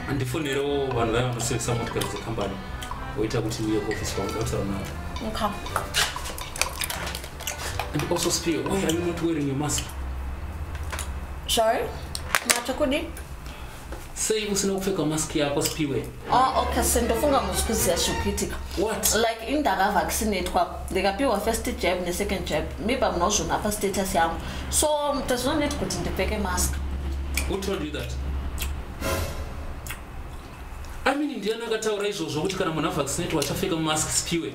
handifonerewo vanhu vaya vanosevesa motikari dzekambani woita kuti ndiye kuofisi kwangu dakutara navo okay. and also spear why are you not wearing your mask sorry matsvakudi sei usina kupfeka mask yako spiwe ah, okay se ndofunga musi kuziva zviri kuitika what like ini ndakavaccinatwa ndikapiwa first jab nesecond jab maybe munozvona apa status yangu so tazvinoneti kuti ndipfeke mask who told you that amini ndiani akataura izvozvo kuti kana munhu avaccinatwa achapfeka mask spiwe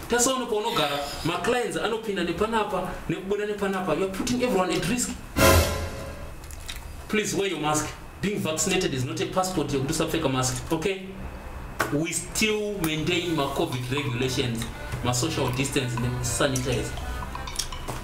Tasa uno paunogara maclients anopinda nepanapa nekubuda nepanapa you're putting everyone at risk. Please wear your mask. Being vaccinated is not a passport yekuti usapfeka mask, okay? We still maintain ma COVID regulations, ma social distance ne sanitizer.